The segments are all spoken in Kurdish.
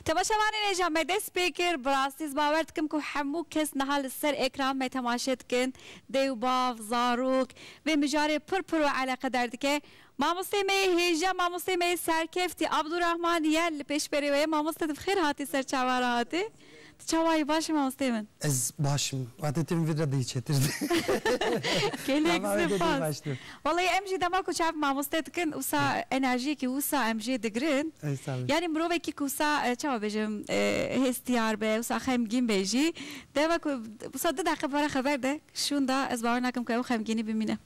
Temaşevanên ê jî me dest pê kir. Bi rastî ez bawer dikim ku hemû kes niha li ser ekran me temaşe dikin. Dê û bav, zarok vê mijarê pir pir û eleqedar dike. Mamosteyê me yê hêja mamosteyê me yê serkeftî Abdurahman ye li pêşberê we ye. Mamoste tu bi xêr hatî ser çavan re hatî. Tu çawa yî baş î mamosteyê min. Ez baş im. Wate tu min vîr re dihî çêtir dî. Gelek Dema wê dê dihî sipâs. baş dû. Walayi em jî dema ku çav mamoste dikin wisa enerjiyekî wisa em jê digirin. Ey sağ ol. Yanî mirovekî ku wisa çawa bêjim hêstiyar be wisa xemgîn be jî dema ku wisa du deqe pere xeber de şûnda ez bawer nakim ku ew xemgînî bimîne.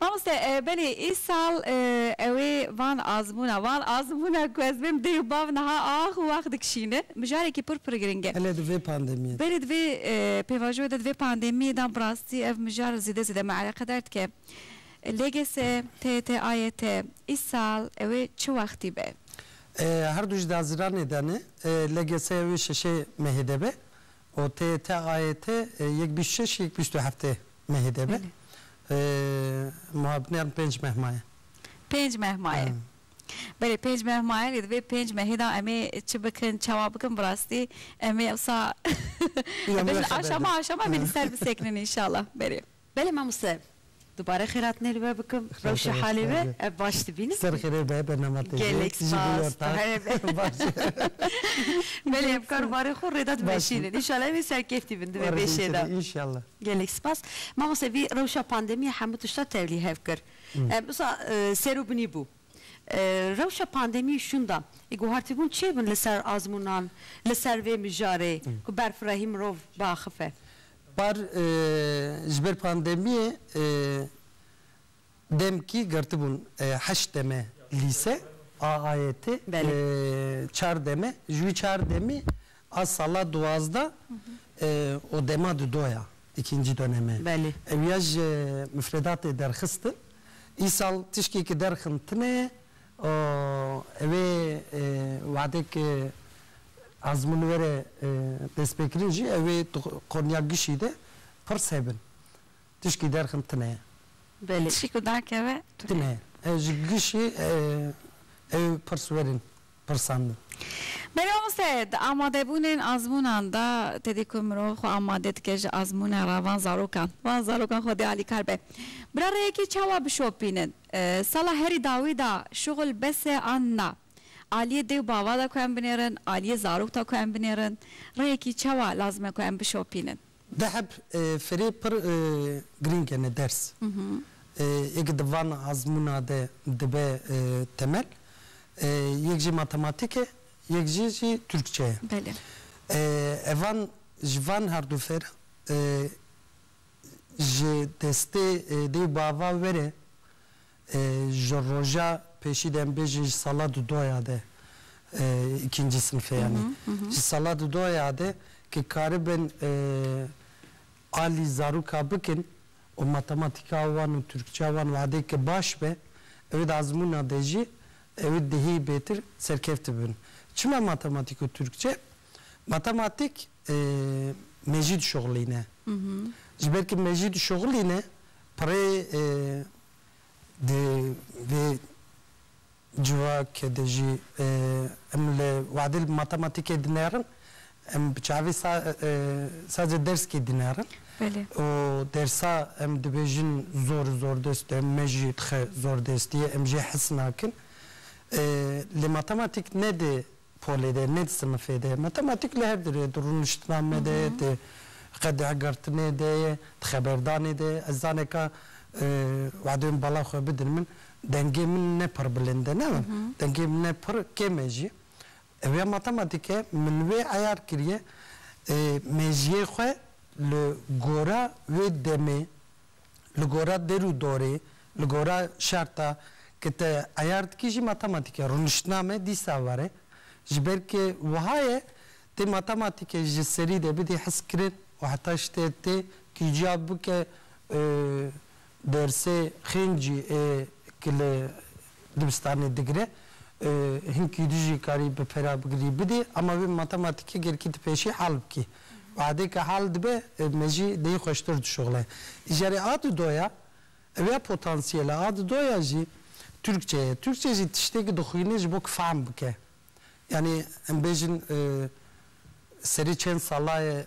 Mamoste belê îsal ew ê van azmûna van azmûna ku ez bên dê û bav niha ax û ax dikişînin mijarekî pir pir giring e. Belê di vê pandemiyê de. Belê di vê pêvajoyê de di vê pandemiyê de bi rastî ev mijar zêde zêde me eleqedar dike. LGS, TYT, AYT îsal ew ê çi wextî be? Her du ji di haziranê de ne. LGS ew ê şeşê mehê de be OTTAET yek bîst şeş yek bîst û heftê mehê de be. Belê. Muha binêrin pênc meh maye. Pênc meh maye. He. Belê pênc meh maye lê di vê pênc mehê de em ê çi bikin çawa bikin bi rastî em ê ewsa Îro em me bêjin xeber aşama de. aşama em ê li He. ser bisekinin înşallah. Belê. Belê mamoste dubare xêratnê li we bikim rewşa halê we ev baş dibînim. Ser xêrê be bernama te jî. Gelek spas tu here be. Belê em karûbarên xwe rêde dimeşînin. Înşallah em ê serkêftî bin divê bêşê de. Gelek spas. Mamoste vî rewşa pandemîya hemû tişta tevlî hev kir. Em usa ser û binî bû. Rewşa pandemî û şûnda ê guhartîbûn çê bin li ser azmûnan li ser vê mijarê ku berfirehî mirov biaxife? Par ji ber pandemiyê demkî girtibûn heşt deme lîse a AYT, çar deme ji wî çar demî a sala duwazdeh û dema di do ya îkîncî doneme. Ew ya ji mifredatê derxistin. Îsal tişkê ki derxin tine û ev ê wehdek ezmûn were destpêkirin jî ew ê tu qonya gişî de pirs hebin. Tişkî derxin tune ye. Belê. Tişkî ku dakeve tune ye. Tune ye. Ji gişî ew ê pirs werin pirsandin. Belê mamoste, di amadebûnên ezmûnan de tedî ku mirov xwe amade dike ji ezmûne re van zarokan. Van zarokan xwedê alîkar be. Bira rêyekê çawa bişopînin? Sala herî dawî de şuxul bes e an na? Aliyê dê û bava de ku em binêrin, aliyê zarok de ku em binêrin, rehekî çawa lazim e ku em bişopînin? Deheb firê pir girîng e ne ders yê ku di van azmûna de dibe temel. Yek jî matematîk e, yek jî jî Tirkçe ye. Evan ji van herdû fêr Ji destê dê û bava were ji roja pêşî de em bêjin ji sala du doya de îkincî sinfê yanî ji sala du doya de ke karibin alî zaroka bikin û matematîka wan û tirkçeya wan û adê ke baş be ewê di azmûna de jî ewê dihê bêtir serkevtibin. Çima matematîk û tirkçe? Matematîk. me jî dişuxilîne. Ji ber ku me jî dişuxilîne pirê di vê civake de jî em li wade li matematîkê dinerin, em bi çavê sa sadece derskê dinerin û dersa em dibêjin zor zordest e, me jî dixe zordestî ye, em jê hes nakin. Lê matematîk ne di polê de, nê di sinifê de ye. Matematîk li her di rê, di rûniştinanê de ye, di qedexegertinê de ye, di xeberdanê de ye. Ez zaneka wadeyên bala xwe bidin min, dengê min ne pir bilind e, ne were, dengê min ne pir kêm e jî. Ew ya matematîk e, min wê eyar kiriye mejiyê xwe li gora wê demê. li gora der û dorê, li gora şerta ke te eyar dikî jî matematîk e. Rûniştname dîsa ver e. Ji ber ke wiha ye tê matematîkê ji serî de bidî hizkirin û heta ji te tê kî ciya bike dersê xêncî ê ki li dibistanê digire. Hinkî tu jî karî bi pêra bigirî bidî ama wê matematîkê gelkî tu pêşî hal bikî. Badê ke hal dibe me jî lê xweştir dişuxile. Îjarê a di do ya ew ya potansiyele. A di do ya jî Tirkçe ye. Tirkçe jî tiştêkî dixwîne ji bo ke fehm bike. Yanî em bêjin serê çend sala ye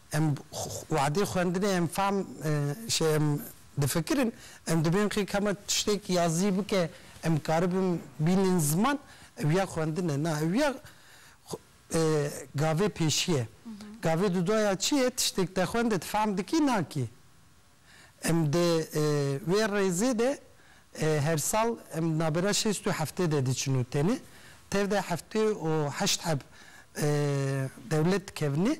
Em wadê xwendinê em fam şê em difikirin em dibên qê kema tiştêk yazî bike em karibin bînin ziman ew ya xwendin e na ew ya gavê pêşî ye gavê dudaya çi ye tiştêk te xwendit fam dikî nakî em di wê rêzê de her sal em nabera şêst û heftê de diçin û tenê tev de heftê û heşt heb dewlet dikevnê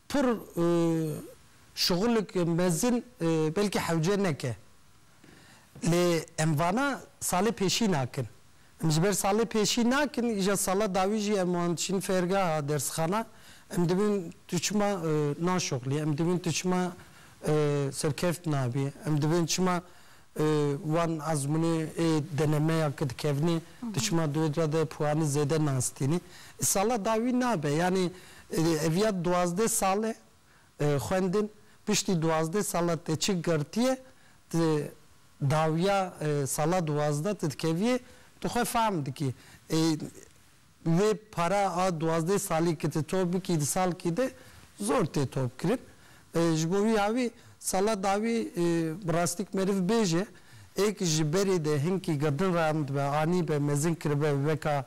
Pir şixulik mezin belkî hewce neke. Lê em vana salê pêşî nakin. Em ji ber salê pêşî nakin, îja sala dawî jî em wan diçin fêrgeha, dersxana. Em dibin tu çima naşixulî, em dibin tu çima serkevt nabî, em dibin çima Wan Azmûnê ê denemeya ke dikevnê di şima dûyê re de puanî zêde nastînî. Îsala da wî nabe. Yanî ev ya duwazdeh sal e xwendin. Piştî duwazdeh sala te çi girtiye tu dawiya sala duwazdeh tu dikeviyê tu xwe fehm dikî. Vê para a duwazdeh salî ki tu top bikî di salkî de zor tê top kirin. Ji bo wî awî sala dawî bi rastîk meriv bêje êk ji berê de hinkî girdin randbe, anîbe, mezin kiribe weka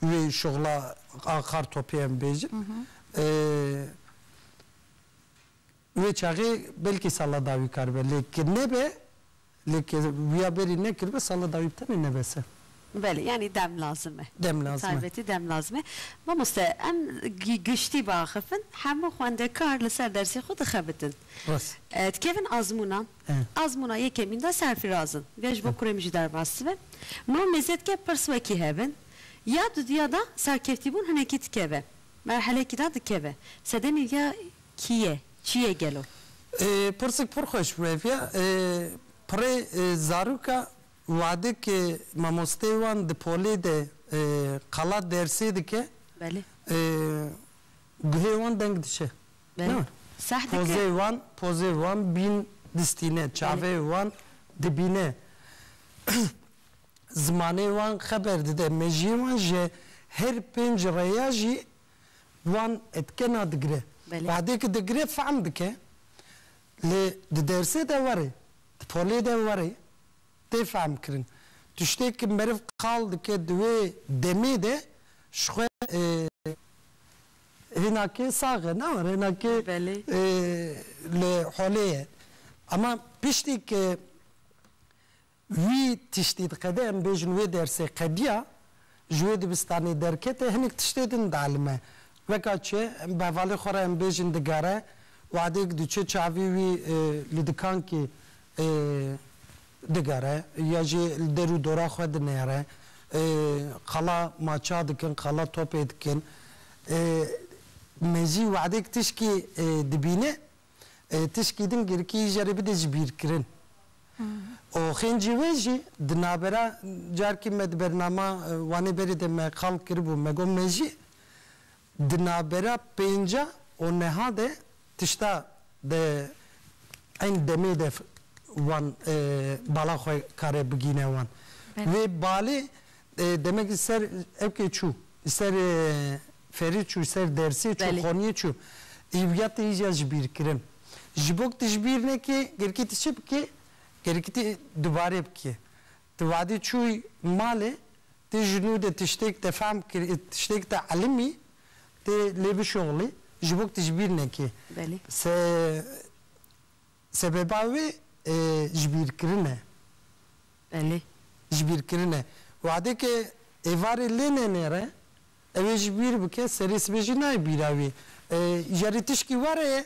wê şixla a kartopê em bêjin. Di wê çaxê belkî sala dawî kar be lê ki nebe lê ki wiya berî nekiribe sala dawî bi tenê nebes e. Belê yanî dem lazim e. Dem Bi lazim e. taybetî dem lazim e. Mamoste em gi giştî biaxifin hemû xwendekar li ser dersê xwe dixebitin. Rast. Dikevin azmûnan. E. Azmûna yekemîn de serfîraz in. Vê ji bo kurê min jî derbas dibe. Mamê zedke pirs wekî hev in. Ya dudiya de serkevtîbûn hinekî dikeve. Merhelekî de dikeve. Sedemê viya Kî ye? Çi ye gelo? Pirsik pir xweş bû ev ya. Pirê zarûka wade ke mamosteyê wan di polê de qala dersê dike guhê wan deng diçe. Na. Pozeyê wan pozeyê wan bîn distîne. Çaveyê wan dibîne. Zimanê wan xeber dide. Mejiyê wan ji her pênc reya jî wan dike na digire. Wehdê ki digire fehm dike. Lê di dersê de were, di polê de were tê fehmkirin. Tiştê ki meriv qal dike di wê demê de ji xwe hinakê sax e ne war hinakê li holê ye. Ema piştî ki Wî tiştî diqede em bêjin wê dersê qediya ji wê dibistanê derkete hinek tiştê din dielime. Weka çi bi hevalê xwe re em bêjin digere wadêk diçe çavî wî li dikankî digere ya jî li der û dora xwe dinêre qala maça dikin qala topê dikin. Me jî wadêk tişkî dibîne tişkî din girkî jê re bide ji bîrkirin. Û xêncî wê jî di navbera carkî me di bernama Wanê Berê de me qal kiribû me got me jî di navbera pênca û niha de tişta di eyn demê de wan bala xwe kare bigîne wan. Wê balê Demek li ser evkê çû, li ser ferî çû, li ser dersê çû, xaniyê çû. Îvya te îja ji bîr kirin. Ji bo ku tu ji bîr nekî, gerikî tu çi bikî? Gerikî tu dubare bikî. Tu vadî çûyî malê, tu ji nû de tiştêk te fehm kirî, tiştêk te elimî, tu lê bişoxilî, ji bo ku tu ji bîr nekî. Belê. Se Sebeba wê jibîrkirin e. Belê. Jibîrkirin e. Wadê ke êvarê lê nenêre, ew ê jî bîr bike, serê sibê jî nayê bîra wî. Ya rê tişkî were ye,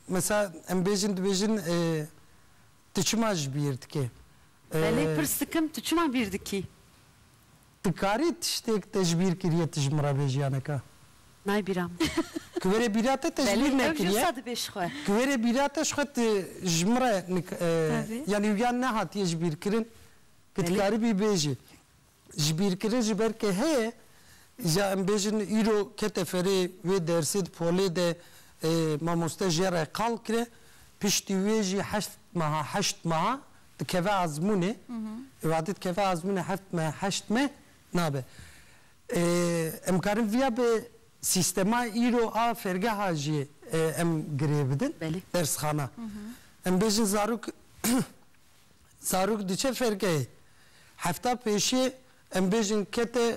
mesela em bêjin dibêjin tu çima ji bîr dikî? Belê pirs dikim tu çima bîr dikî? Ti karî tiştêk tecbîr kirîye ti ji min re bê jiyaneke. Nayê bîra min. Ki were bîra te tecbîr nekirîye. Belê ew jî qisa dibê ji xwe. Ki were bîra te ji xwe ti ji min re nik Tevî. Yanî wiya nehatîye ji bîr kirin. Ki ti karî bî bêjî. Ji bîr kirin ji ber ke heye ja em bêjin îro kete ferê wê dersê di polê de mamoste jê re qal kire piştî wê jî heşt meha heşt meha dikeve ezmûnê ê wadî dikeve ezmûnê heft meh heşt meh nabe. Em karin viya bi sîstema îro a fêrgeha jî em girê bidin dersxana. Em bêjin zarok zarok diçe fêrgehê hefta pêşiyê em bêjin kete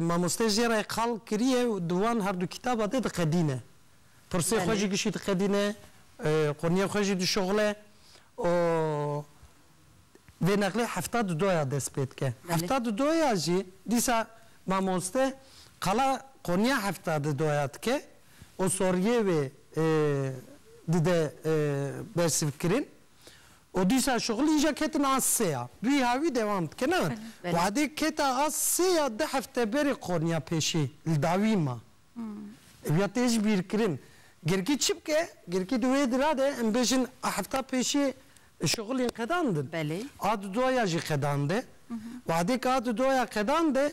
Mamoste jê re qal kiriye û di wan her du kîtaba de diqedîne. Pirsê xwe jî gişî diqedîne, qurniyên xwe jî dişoxile û vê neqlê hefta du doya dest pê dike. Hefta du doya jî dîsa mamoste qala qurniya hefta du doya dike û soriyê wê dide bersivkirin Û dîsa şixulî îja ketin a sê ya. Rîha wî dewam dikena, Wadê keta a sê ya du hefte berê Konya pêşî li dawî ma. Ew ya tê ji bîr kirin. Girkî çi bike? Girkî di wê dira de em bêjin a hefta pêşî şixulîn qedandin. A du doya jî qedande. Wadê ka du doya qedande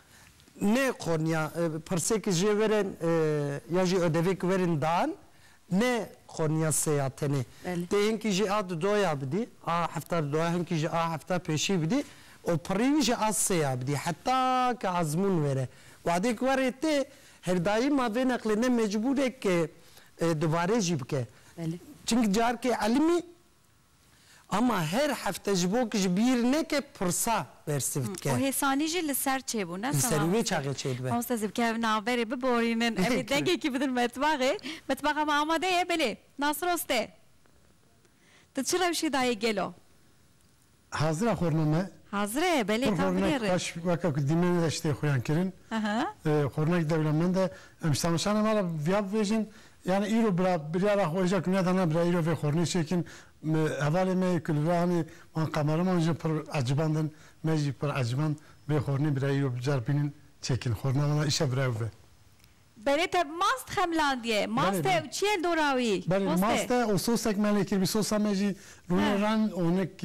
Nê qoniya pirsêkî jê werên ya jî ödevêkî werên dan nê qoniya sê ya tenê. Tê hinkî jî a di doya bidî, a hefta di doya hinkî jî a hefta pêşî bidî û pirî wî jî a sê ya bidî heta ke ezmûn were. Wadê ke werê tê her dayîm a vê neqlê ne mecbûr e ke dubare jî bike. Çimkî carkê elmî Ama her hefte ji bo ku ji bîr neke pirsa bersîv dike. Û hêsanî jî li ser çêbû ne Li ser wê çaxê çêdibe. Mamoste ez ê bikevim navberê biborînin em ê dengekî bidin metbaxê. Metbaxa me amade ye belê. Nasroste. Tu çi rewşê dayê gelo? Hazir e xurina me? Hazir e belê Pir tam xurinek binêrin. xweş weke ku dîmenê de ji tê xuyan kirin. Xurinek dewlemend e. Em ji tamaşanê me re viya bibêjin Yanî îro bila biryara xwe îja kimiya dana bila îro vê xornê çêkin. Hevalê me yê ku li vir a hanê wan kameraman jî pir ecibandin. Me jî pir eciband vê xornê bila îro bi car bînin çêkin. Xorna wan a îşa bila ew be. Belê te bi mast xemilandiye. Mast e û çi ye li dora wî? Belê mast e û sosek me lê kiribî. Sosa me jî rûnê ren û hinek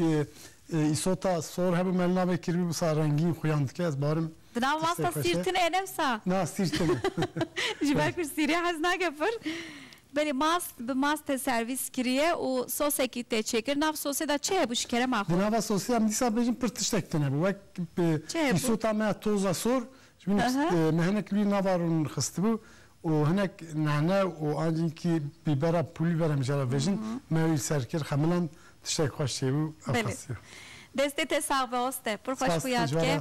îsota sor hebû me li navê kiribî wisa rengîn xuyan dike. Ez barim. Di nav masta sîr tune ye ne wisa? Na sîr tune. Ji ber ku sîrê hez nake pir. Belê mast bi mast te servîs kiriye û sosekî tê çêkir. Di nav sosê de çi hebû ji kerema xwe? Di nava sosê em dîsa bêjin pir tiştek tune bû. Wek bi îsota me toza sor ji bin me hinek lûyên nava rûn xistibû û hinek nane û ancînkî bîbera pulver em jê re vêjin me wî ser kir xemiland tiştek xweş çêbû. Ew xesiya. Destê te sax be oste. Pir xweş xwe yad ke.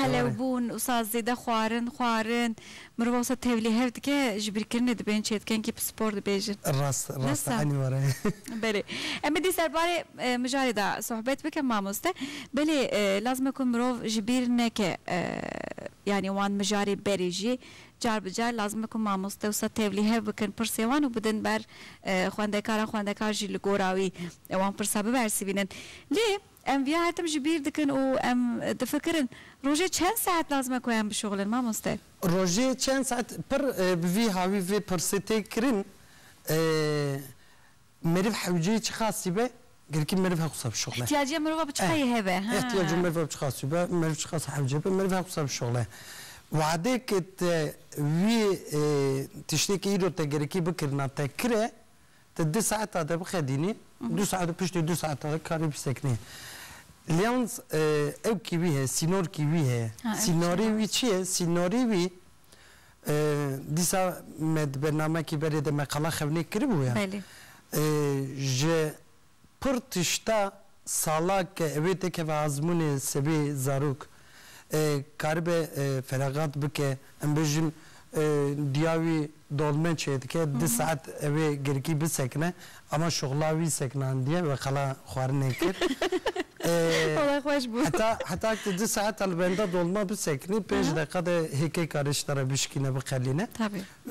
Qelewbûn û saz zêde xwarin, xwarin. Mirova wisa tevlî hev dike, ji bîrkirinê dibên çêdikenkî pispor dibêjin. Rast e, rast e, enî were ye. Belê. Em ê dî serbarê mijarê de sohbet bikin mamoste. Belê, lazim e ku mirov ji bîr neke yanî wan mijarê berê jî car bi car lazim e ku mamoste wisa tevlî hev bikin pirsên wan û bidin ber xwendekaran, xwendekar jî li gora wî wan pirsa bibersivînin. Lê. Em vîya her tim ji bîr dikin û em difikirin, rojê çend saet lazim e ku em bişuxulin mamoste? Rojê çend saet, pir bi vî havî vê pirsê tê kirin, meriv hewceyî çi qasî be, gelkî meriv her qasa bişuxule. Îhtîyaciya mirova bi çi qasî hebe, ha. Îhtîyaciya mirova bi çi qasî be, meriv çi qas hewce be, meriv her qasa bişuxule. Wadeke te wî tiştê ku îro te gelekî bikirina te kire, Ti du saeta de bixedînî, du saet û piştî du saeta de karî bisekinî. Lyans ew kî wî heye, sînor kî wî heye, sînorê wî çi ye? Sînorê wî dîsa me di bernamekî berê de me qala xewnê kiribû ya. Belê. Ji pir tişta Salak wê tekeve azmûnê sibê zarok karibe feragat bike em bêjin diya wî dolme çêdike di saet ewê girkî bisekine ama şoxla wî seknandiye ve qala xwarinê kir heta heta tu di saet li benda dolma biseknî pênc deqa de hêkê karê ji te re bişkîne biqelîne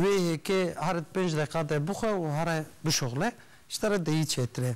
wê hêkê hered pênc deqa de bixwe û here bişoxle ji te re dehî çêtir e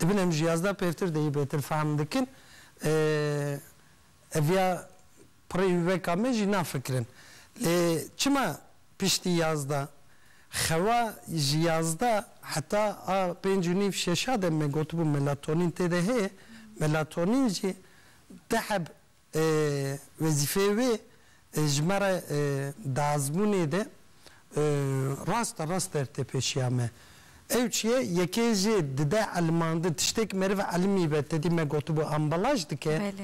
Dibin em ji yazdeh pêvtir de yê bêtir fehm dikin. Ev ya pirê wî weka me jî nafikirin. Lê çima piştî yazdeh? Xewa ji yazdeh heta a pênc û nîv şeşa de me gotibû melatonîn tê de heye. Melatonîn jî deh heb Wezîfeyê wê ji me re di azmûnê de raste rast dertepêşiya me. Ew çi ye? Yekê jê dide elimandin. Tiştêk meriv elimî be, tedî me gotibû ambalaj dike.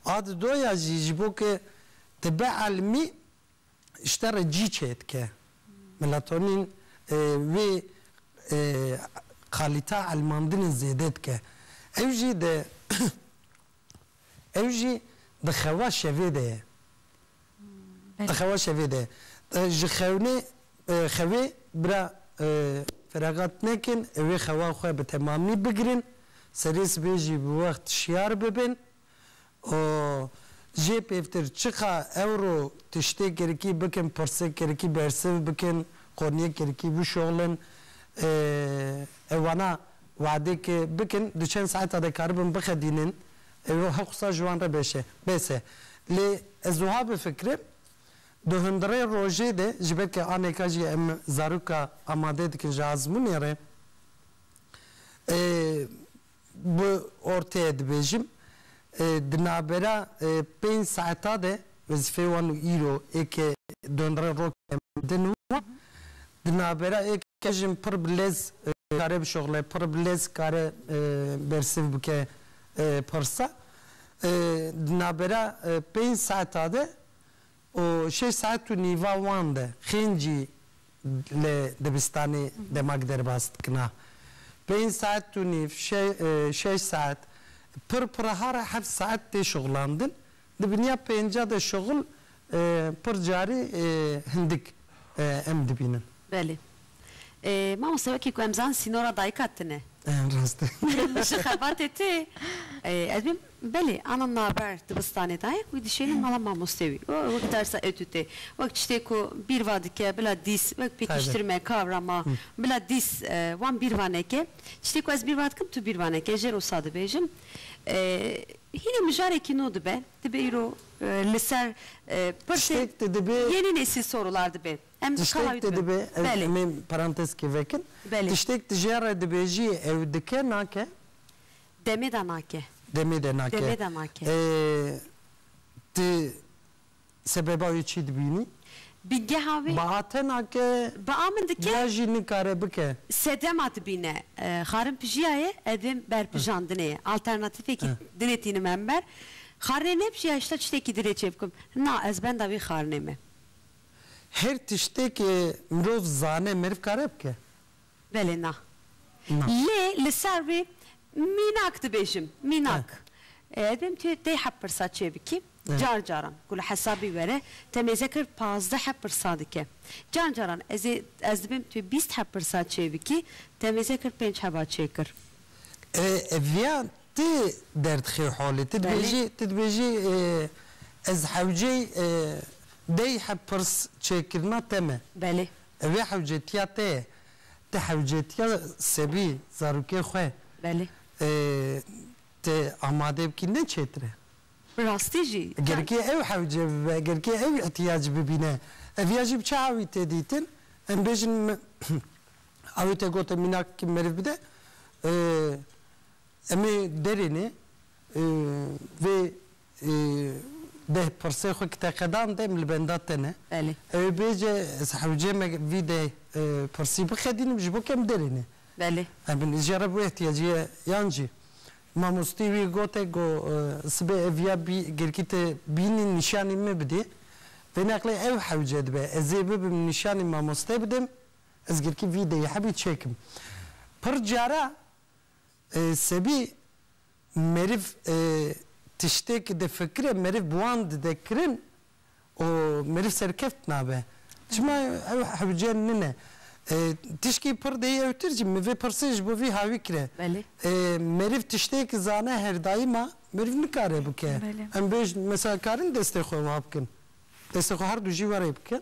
A di do ya jî ji bo ke dibe elimî ji te re cî çêdike. Melatonîn wê kalîteya elimandinê zêde dike. Ew jî di Ew jî di xewa şevê de ye. Di xewa şevê de ye. Ji xewnê xewê bira feragat nekin, wê xewa xwe bi temamî bigirin, serê sibê jî bi wext şiyar bibin û jê pêvtir çiqa ewro tiştê kirikî bikin, pirsê kirikî bersiv bikin, qoniyê kirikî bişoxlin, ew wana Wadeke bikin du çend saeta de karibin bixedînin ew ê heqûsa ji wan re beşe bese. Lê ez wiha bifikirim du hundirê rojê de ji ber ke aneka jî em zaroka amade dikin ji azmûnê re bi orteye dibêjim di navbera pênc saeta de Wezîfeyê wan û îro ê ke donre roke mendin û di navbera ê ke jin pir bi lez kare bişoxile, pir bi lez kare bersiv bike pirsa. Di navbera pênc saeta de û şeş saet û nîva wan de xêncî li dibistanê demak derbas dikina. Pênc saet û nîv, şeş saet, pir pirehare heft saet tê şoxilandin Di binîya pênca de şuxul pir carî hindik em dibînin. Belê. Mamoste wekî ku em zanin sînora dayika tune. Rast e. Ji xebatê tê. Ez bim belê ana naber dibistanê dayê wî dişêne mala mamoste wî û wek dersa etûtê wek tiştê ku bîr va dike bila dîs wek pêkiştir me kavra ma bila dîs wan bîr va neke tiştê ku ez bîr va dikim tu bîr va neke jê re wisa dibêjim. Hîna mijarekî no dibe, dibe îro li ser pirsê yênî nesî sorular dibe. Em tiştek de dibe, em ê parantezkê vekin. Tiştek tije re dibêjiyê ew dike nake? Demê de nake. Demê de nake. Demê de nake. Ti Sebeba wê çi dibînî? Bi geha wê. Bi atena ke. Bi a min dike. Ya jî nikare bike. Sedema dibîne. Xarin pijiya ye, evên berpijandinê ye. Alternatîfekî dinê tînim hember. Xarinê nepijîya hişta tiştekî dinê çêbikim. Na, ez benda wî xarinê me. Her tiştekê mirov zane meriv kare bike. Belê na. Lê li ser wê mînak dibêjim. Mînak. Ez dibêjim tu yê tê heft pirsa çê bikî. Car caran ku li hesabî were te mêze kir pazdeh heft pirsa dike. Car caran ez ê ez dibêjim tu yê bîst heft pirsa çê bikî te mêze kir pênc heva çê kir. Viya ti derdixê holê. Ti dibêjî ti dibêjî ez hewceyî deh heft pirs çê kirina te me. Belê. Di vê hewcetiya te ye. Ti hewcetiya sebî zarokê xwe Belê. Ti amade bikî ne çêtir e. Bi rastî jî. Eger kê ew hewce bibe, eger kê ew îhtîyac bibîne, ev ya jî bi çi awî tê dîtin? Em bêjin awê te gotin mînakekî meriv bide. Em ê derênê vê Deh pirsê xwe ki teqedan dem li benda te ne. Belê. Ew ê bêje ez hewcê me vî deh pirsî bixedînim ji bo ke em derê ne. Belê. Em binê jê re bi wê ihtiyacî ye yan jî. Mamostî wî gote ku sibê ev ya bî girkî te bînî nîşanî min bidê. Vêneqlê ew hewce dibe. Ez ê bibim nîşanî mamoste bidim. Ez girkî vî deyî hebî çêkim. Pir cara Sebî meriv tiştêk difikire, meriv bi wan dide kirin û meriv serkeft nabe. Çima ew hewce nine. Tişkî pir dêyewtir jî min vê pirsê ji bo vî hawî kire. Meriv tiştêk zane her daîma meriv nikare bike. Em bêjin mesela karin destê xwe wiha bikin. Destê xwe her du jî werê bikin.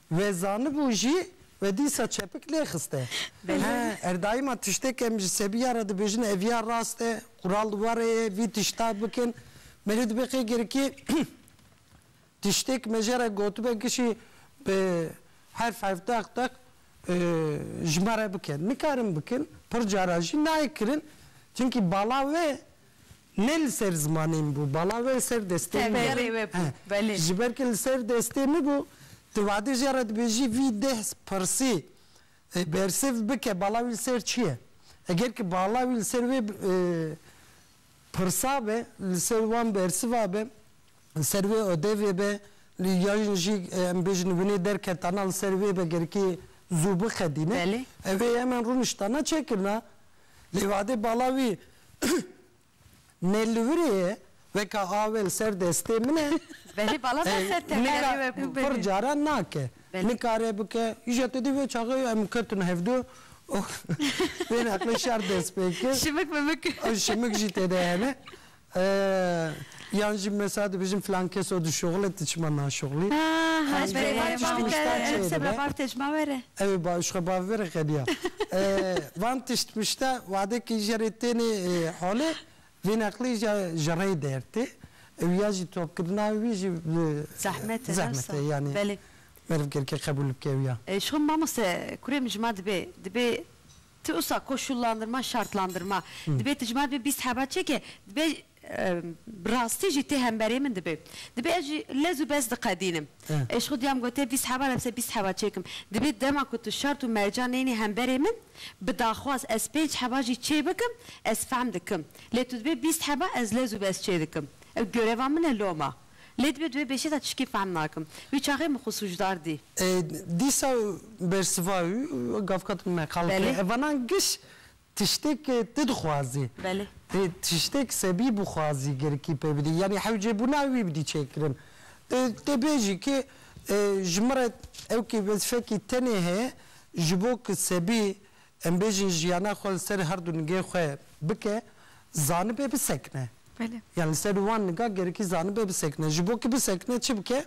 Wê zanibû jî wê dîsa çepik nêxiste. He, erdayîma tiştêk em ji sebiya re dibêjin ev ya rast e, qural di warê ye vî tişta bikin. Me lê dibe qey girikî tiştêk me jê re gotibe kişî bi herf herf deq deq ji me re bike. Nikarin bikin, pir cara jî nayê kirin. Çimkî bala wê Ne li ser zimanê min bû, bala we li ser destê min bû. Teberê we bû, belê. Ji ber ku li ser destê min bû, tu wadêje re dibêjî vî deh pirsî bersiv bike, bala wî li ser çi ye? Eger ku bala wî li ser wê pirsa be, li ser wan bersiva be, li ser wê odevê be, yan jî em bêjin winê derketana li ser wê be, gerikê zû bixedîne. Belê. Ev ê hemen rûniştana çekirina. Lê vadê bala wî nêlûhurê ye weka awe li ser destê min e. Belê bala me ser tengerê we bû. Pir caran nake. Nikare bike. Îja te dî vê çaxê ye em ketin hevdu û bên eqlê şer dest pê kir. Şimik mimik. Şimik jî têde hene. Eee yan jî mesa dibijin filan keso di şoxil e ti çima naşoxilî. Haa ez berê berê ma bike qise bila bav te çima were. Ew ê bav ji xwe bav vere qeniya. Eee van tişt mişta wade kî jerê tênê holê vê neqlî ja ji rey der tê û ya jî topkirina wî jî Zehmet e zehmet e yanî meriv gerike qebûl bike ew ya. Şon mamoste kurê min ji ma dibê dibê Ti usa koşullandirma, şartlandirma, dibê tijmar bê bîst heba çeke, dibê bi rastî jî tê hemberê min dibê. Dibê ez jî lez û bez diqedînim. Ez ji xwe duyam gotê bîst heba re bise bîst heba çekim. Dibê dema ku tu şart û merca neyênî hemberê min, bi daxwaz ez pênc heba jî çê bikim, ez fehm dikim. Lê tu dibê bîst heba ez lez û bez çê dikim. Ew göreva min e loma. Lê divê di wê bêşê de tişkî fehm nakim. Wî çaxê min xwe sûcdar dî. Dîsa bersiva wî gavka din me qal kir, Hevana giş tiştêk tu dixwazî. Tiştêk sebî bixwazî girikî pê bidî. Yanî hewcêbûna wî bidî çêkirin. Tê bêjî kê ji min re ewkê wezîfekî tenê heye ji bo ku sebî Em bêjin jiyana xwe li ser herdu nigên xwe bike, zanibe bisekine. Belê. Yan li ser wan niga gerikî zanibe bisekine. Ji bo ki bisekine çi bike?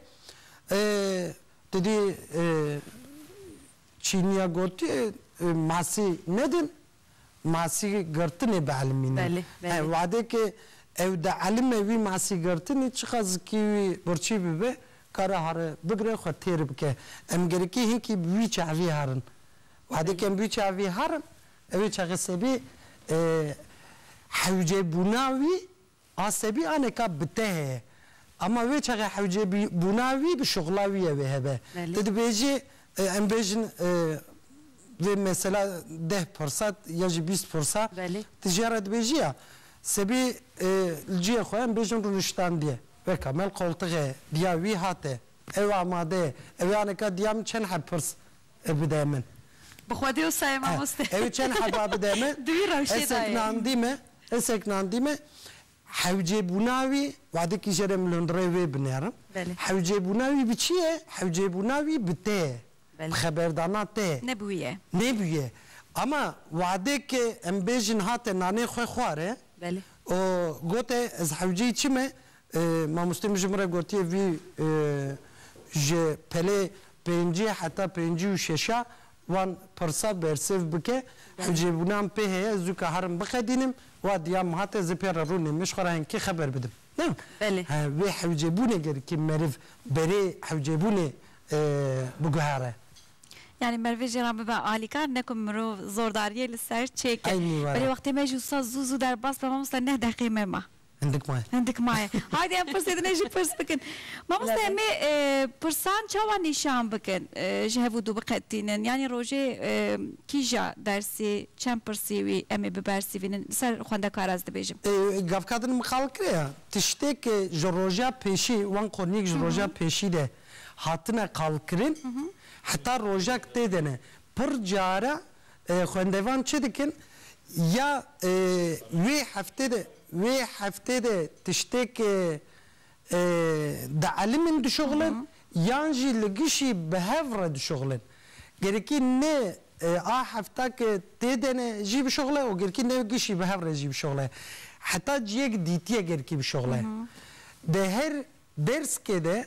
Didî çîniya gotiye masî nedin, masî girtinê bi elmî ne. Belê, belê. He, wadekê ew di elime wî masî girtinê çiqas zikî wî birçî bibe, kare hari bigire xwe têr bike. Em gerikî hinkî bi wî çavî herin. Wadê kembûçeya vî herim ew ê çexesebê hewcebûna wî a sebî a neka bi te heye. Ama wê çexe hewcebûna wî bi şixula wî ew ê hebe. Tu dibêjî em bêjin vê mesela deh pirsa ya jî bîst pirsa tu jê re dibêjî ya sebî li cihê xwe em bêjin rûniştandiye weka mel qoltixe diya wî hate ew amade ye ew ê a neka diya min çend heb pirs Ev bide min. Bi xwe dê wisa ye mamoste. Ew ê çend heba bide min. Di wî rewşê de ye. Hesek nandî me. Hewcêbûna wî, wadekî jê re min li hundirê wê binerim. Hewcêbûna wî bi çi ye? Hewcêbûna wî bi te ye. Bi xeberdana te ye. Nebûye. Nebûye. Ama wadekê em bêjin hate nanê xwe xware û gote ez hewceyî çi me, Mamosteyê min ji min re gotiye vî ji pelê pêncî heta pêncî û şeşa wan pirsa bersêv bike. Hicêbûna min pê heye ez dûka herim bixedînim. Wa diya min hate ez ê pê re rû nêm. Min ji xwe re hingkî xeber bidim. Na, vê hewcêbûnê gerikê meriv berê hewcêbûnê biguhere. Yanî merivê jê re bibe alîkar, ne ku mirov zordariyê li ser çêke. Berê wextê me jî wisa zû zû derbas be mamoste neh deqê me ma. Hindik maye. Hindik maye. Haydi em pirsê din e jî pirs bikin. Mamoste em ê pirsan çawa nîşan bikin ji hev û dû biqetînin? Yanî rojê kîja dersî çend pirsî wî em ê bibersîvînin li ser xwendekar ez dibêjim. Gavka din miqalkirê ye. Tiştê ku ji roja pêşî wan qoniyek ji roja pêşî de hatine qalkirin heta rojek tê de ne. Pir care Xwendevan çi dikin? Ya wê heftê de wê heftê de tiştêk di elimên dişuxilin yan jî li gişî bi hev re dişuxilin? Gerekî ne a hefta ke tê de ne jî bişuxile û gerekî ne gişî bi hev re jî bişuxile. Heta ciyek dîtiyê gerekî bişuxile. Di her derskê de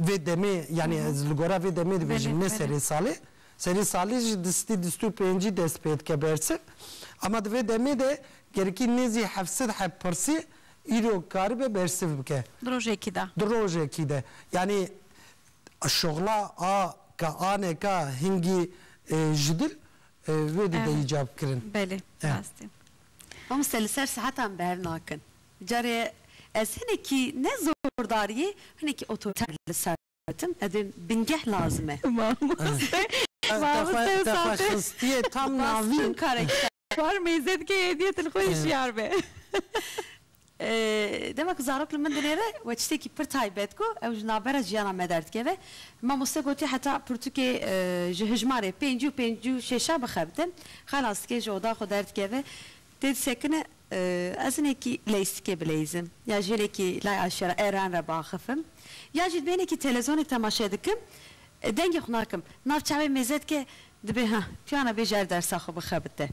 Vê demê yanî ez li gora vê demê dibêjim ne serê salê. Serê salê jî di stî du sed û pêncî dest pê dike bersiv. Ema di vê demê de gerikî nêzî heft sed heb pirsî îro karibe bersiv bike. Di rojekî de. Di rojekî de. Yanî şixula a ka aneka hingî ji dil wê dide îcab kirin. Belê rast e. Mamoste li ser saetan bernakin. Carê ez hinekî ne zordariyê hinekî otoriter li ser dikim ez ê bingeh lazim e. Mamoste mamoste Safê bas çend karek war mêze dike hêdiyê tu li xwe hişyar be. Dema ku zarok li min dinêre we tiştekî pir taybet ku ew ji navbera jiyana me derdikeve mamoste gotiye heta pirtûkê ji hijmarê pêncî û pêncî û şêşa bixebitim xelas dike ji oda xwe derdikeve Tê disekine, ez hinekî leysikê bileyzim, ya jî hinekî lay eşera êran re biaxifim, ya jî dibê hinekî telezonê temaşe dikim, dengê xwe nakim, nav çavê mêze dike, dibê heh, piyana bê jer dersa xwe bixebite.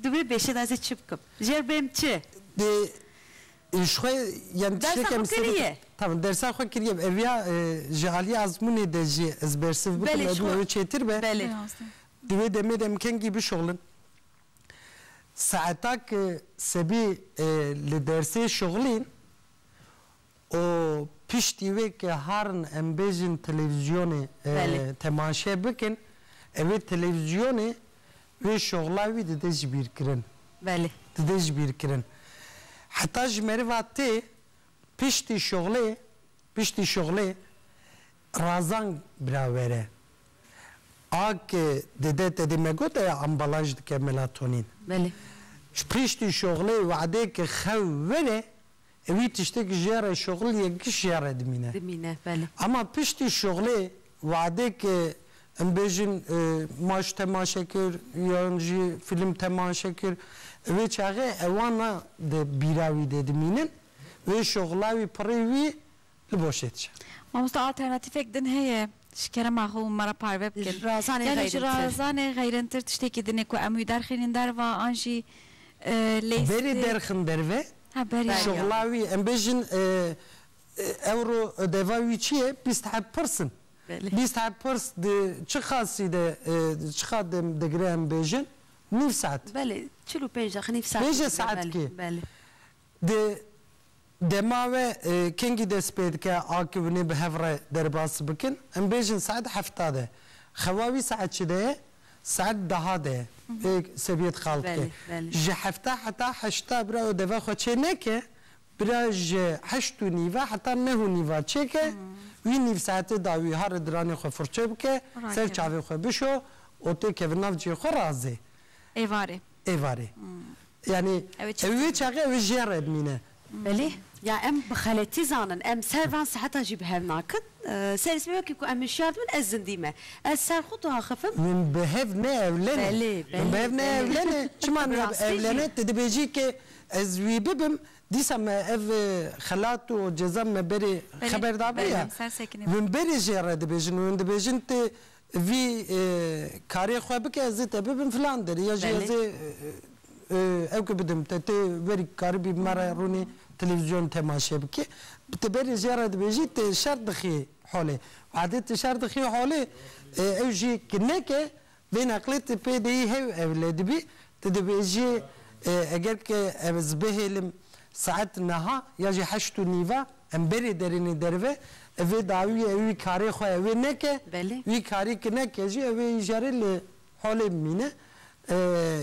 Dibê bêşe de ez ê çi bikim? Jer bêm çi? Dê ji xwe yan tiştekê Dersa xwe misal bikim. kiriye. Tamam, dersa xwe kiriye. Ev ya ji aliyê azmûnê de jî ez bersiv bikim, Belê, ji ew xwe, ew çêtir be. belê. Rastî. Di wê demê de em kengî bişuxlin. Saeta ku Sebî li dersê şixulîn û piştî wê ku harin em bêjin televîzyonê temaşe bikin, evê televîzyonê wê şixula wî dide ji bîr kirin. Belê. Dide ji bîr kirin. Heta ji meriva tê piştî şixulê, piştî şixulê Razan biravere. Ak dede tedê me got eya ambalaj dike melatonîn. Belê. Ji piştî şoxlê wedêke xew were e wî tiştêk ji re şoxl yek giş ji re dimîne. Dimîne, belê. Ema piştî şoxlê wedêke em bêjin ma ji temaşe kir yan jî fîlm temaşe kir e wê çaxê ewana di bîra wî de dimînin wê şoxla wî pirê wî li boşê diçe. Mamoste alternatîfek din heye ji kerema xwe û me re parve bikin? Ji razanê xeyrintir. Yani ji razanê xeyrintir tiştekî din e ku em wî derxînin derva an jî lê sitê. Berê derxin derve. Ha berê. Şixula wî em bêjin ewro ödeva wî çi ye? Bîst heb pirs in. Belê. Bîst heb pirs di çi qasî de çiqat dem digire em bêjin? Nîv saet. Belê. Çil û pênc deqe nîv saet. Pênc saetkê. Belê. Di dema we kengî dest pê dike akivnê bi hev re derbas bikin? Em bêjin saet hefta de. Xewa wî saet çi de ye? Saet deha de ye. Vê seviyê dixal dike. Ji hefta heta heşta bira û deve xwe çê neke, bira ji heşt û nîve heta neh û nîva çêke, wî nîv saetê da wî ha re diranê xwe furçe bike, ser çavê xwe bişo û tê kevin nav cihê xwe razê. Êvarê. êvarê. Yanî ew wê çaxê ew ê ji yan re bimîne. Belê. Ya em bi xeletî zanin. Em ser van seheta jî bi hev nakin. Serê sibê wekî ku em hişyar dibin ez zindî me. Ez ser xwe diaxifim. Min bi hev neewlene. Belê, belê. Min bi hev neewlene. Çima niha bi ewlene? Tu dibêjî ke ez wî bibim dîsa me ev xelat û ceza me berê xeber dabû ya. Min berê jê re dibêjin û hûn dibêjin tu Vî karê xwe bike ez ê te bibim filan derê ya jî ez ê ew ki bidim te. Tê werî karibî me re rûnê televîzyon temaşe bikî. Ti berê jê re dibêjî ti şer dixî holê. Wadê ti şer dixî holê ew jî ki neke vê neqlê ti pê deyî hew ewle dibî. Ti dibêjî eger ki ez bihêlim saet niha ya jî heşt û nîve Emberê derînê derve ev vê dawiyê ew wî karê xwe ew ê neke, Belê. wî karî ki neke jî ew ê îjarê li holê bimîne.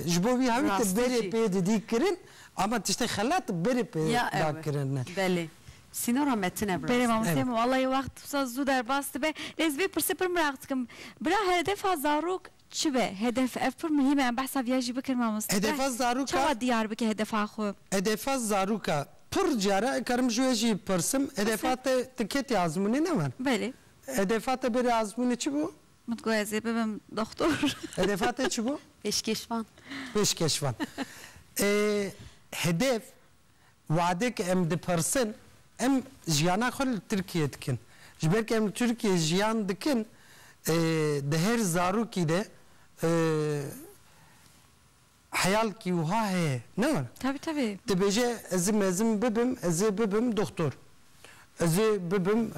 Ji bo wî hewî te berê Rastî pê didî kirin ama tiştê xelat berê pê Ya da ew e. kirin ne. Belê. Sînora metin e bi Belê rastî. mamosteyê Evet. min walayi wext wisa zû derbas dibe. Lê ez vê pirsê pir miraq dikim. Bira herdevha zarok Çibe hedef ev pir muhîm e em behsa viya jî bikin mamoste Hedefa bes zarûka çawa diyar bike hedefa xwe. Hedefa zarûka pir cara karim ji we jî pirsim hedefa Asê. te ti ketî azmûnê ne wan Belê. hedefa te bêrê azmûnê çi bû? Min digot ez ê bibim doxtor. Hedefa te çi bû? Pêşkêşvan. Pêşkêşvan. Ê hedef Wadek em dipirsin, em jiyana xwe li Tirkiyê dikin. Ji ber ku em li Tirkiyê jiyan dikin, di her zarokî de heyalkî wiha heye, ne were? Tevî tevî. Dibêje ez ê mezin bibim, ez ê bibim doxtor, ez ê bibim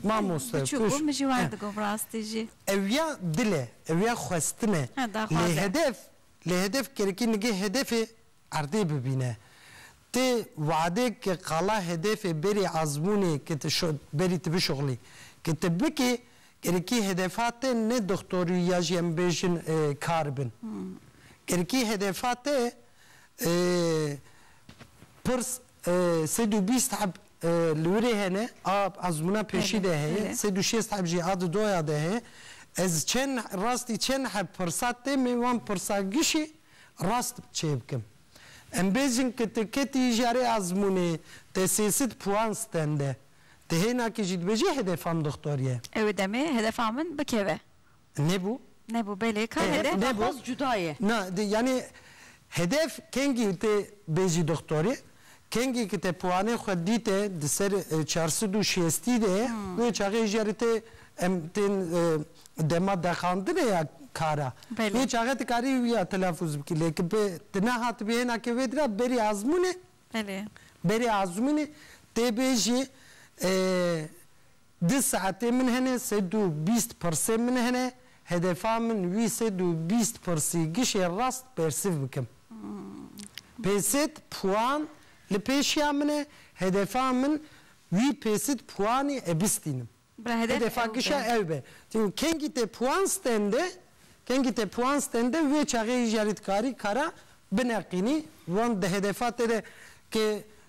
mamoste. Biçûk bû, min jî wan digot bi rastî jî. Ew ya dil e, ew ya xwestin e. Lê hedef, lê hedef kerekî nigê hedefê Erdê bibîne. Ti wadê ke qala hedefê berî azmûnê ke ti berî ti bişuxlî. Ke ti bikî gerekî hedefa te ne doxtor û ya jî em bêjin kar bin. Gerekî hedefa te pirs sed û bîst heb li wir ê hene a azmûna pêşî de heye, sed û şêst heb jî a di doya de heye. Ez çend rastî çend heb pirsa te me wan pirsa gişî Rast çêbikim. Em bêjin ke tu ketî jarê ezmûnê, te sê sed puan stende. Ti hênakî jî dibêjî hedef am doktor ye. Ew demê hedefa min bikeve. Nebû? Nebû belê ka nebe. Hedef daxwaz cuda ye. Na, yanî hedef kengî tu bêjî doktorê, Kengê ki te piwanê xwe dîte di ser çar sed û şêstî de wê çaxê hêja rê te em tên dema dexandinê ya kar a. Wê çaxe tu karî wiya telafûz bikî lê ki tu nehatibî hêna ke wê dira berî azmûnê berî azmûnê tê bêjî Di saetê min hene sed û bîst pirsê min hene, hedefa min wî sed û bîst pirsî gişê rast bersiv bikim. Pêsit puan li pêşiya min e, hedefa min wî pêsit puanî e bistînim. Hedefa gişa ew be. Çîn kengî te puan stende, kengî te puan stende wê çaxê hî jarî dikarî kara bineqînî wan di hedefa te de ke